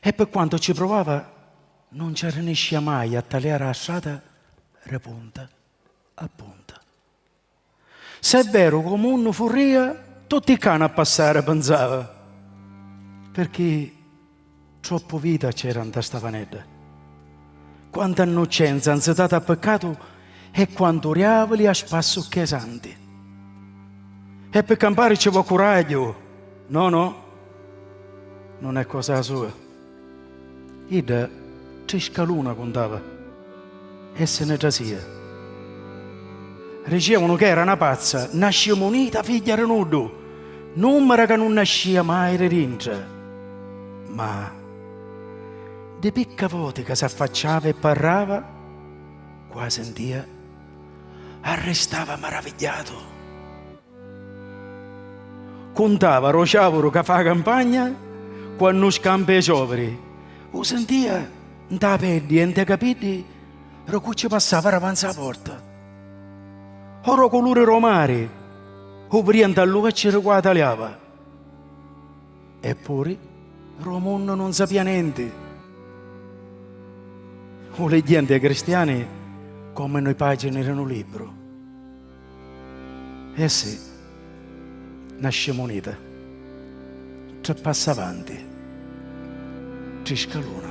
e pi quantu ci pruvava nun ci arriniscìa mai a taliari a strata ri punta a punta. Si è veru cu munnu furrìa tutti i cani a passari pinsava, pirchì troppu vita c'era nta sta vanedda. Quanta 'nnuccenza 'nzitata a piccatu e quantu riavili a spassu cchè santi. E pi campari ci vò curagghiu, no no, nun è cosa sua. Idda tri scaluna cuntava e si ni trasia. Ricievunu ca era 'na pazza, 'na scimunita figghia di nuddu, nummera ca nun nascia mai di dintra. Ma. Di picca voti ca s'affacciava e parrava, quasi 'n dia, arristava maravigghiatu. Cuntava ro ciavuru ca fa a campagna quannu scampa i cioviri, u sintia nta a peddi e nta i capiddi ro cu ci passava ravanzi a porta, o ro culuri ro mari, u viria nta lu vecchiu ri quataliava. Eppuri, ru munnu nun sapia nenti. U ligghenti e cristiani comu nui pagini ri nu libru. E si, na scimunita tri passa avanti, tri scaluna.